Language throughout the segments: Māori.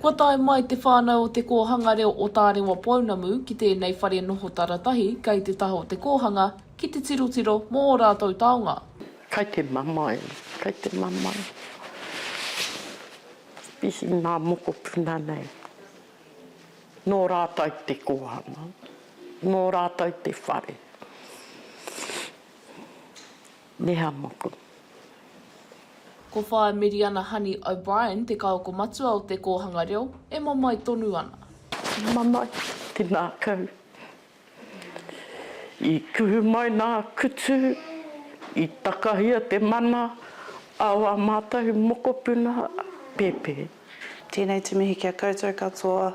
Kua tae mai te whānau o Te Kōhanga Reo o Tārewa Pounamu ki tēnei whare noho taratahi kei te taha o te kōhanga ki te tirotiro mō ō rātou taonga. Kai te mamae, kai te mamae. Mihi ngā mokopuna nei. Nō rātou te kōhanga. Nō rātou te whare. Nehamoku. Ko Whaea Miriana Honey O'Brien te kaoko matua o te kōhanga reo e mamae tonu ana. Mamae te ngākau. I kuhu mai nā kutu, i takahia te mana a wā mātou mokopuna pēpē. Tēnei te mihi ki a koutou katoa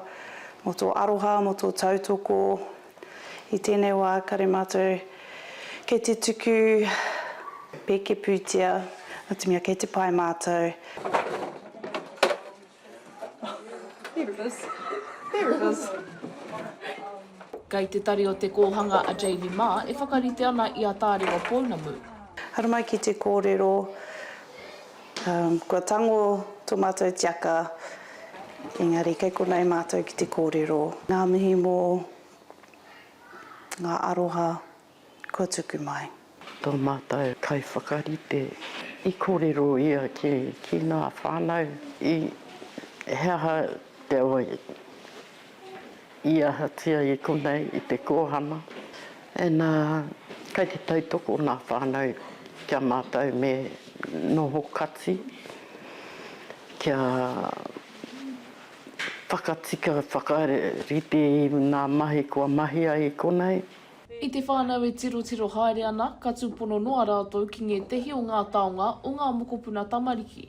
mō tō aroha, mō tō tautoko. I tēnei wā kare mātou kei te tuku pēke pūtea, nō te mea kei te pae mātou. Kei te tari o te kōhanga a Jamie mā e whakarite ana i a Tārewa Pounamu. Haramai ki te kōrero. Kua tango to matou tiaka engari kei konei matou ki te korero. Nga mihi mo nga aroha kua tuku mai. To matou kaiwhakarite i korero ia ki nga whanau i he aha te oi. i ahatia i konei i te kōhanga, ena kai te tautoko ngā whānau kia mātou me noho kati kia whakatika whakarite i ngā mahi kua mahi ai i konei. I te whānau e tirotiro haere ana, ka tūpono noa rātou ki ngētehi o ngā taonga o ngā mokopuna tamariki.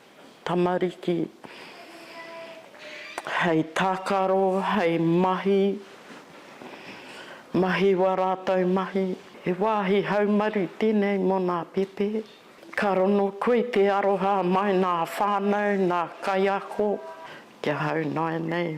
Tamariki, hei tākaro, hei mahi, mahi wā rātou mahi. He wāhi haumaru tēnei mō nā Pepe. Ka rongo koe i te aroha mai nā whānau, nā kaiako, kia hau nāianei.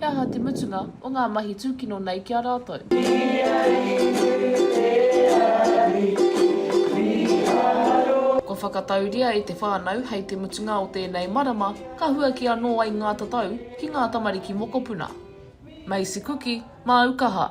He aha te mutunga o ngā mahi tūkino nei ki a rātou? Kua whakatauria e te whānau hei te mutunga o tēnei marama ka huaki anō ai ngā tatau ki ngā tamariki mokopuna. Macy Kuki, māu kaha.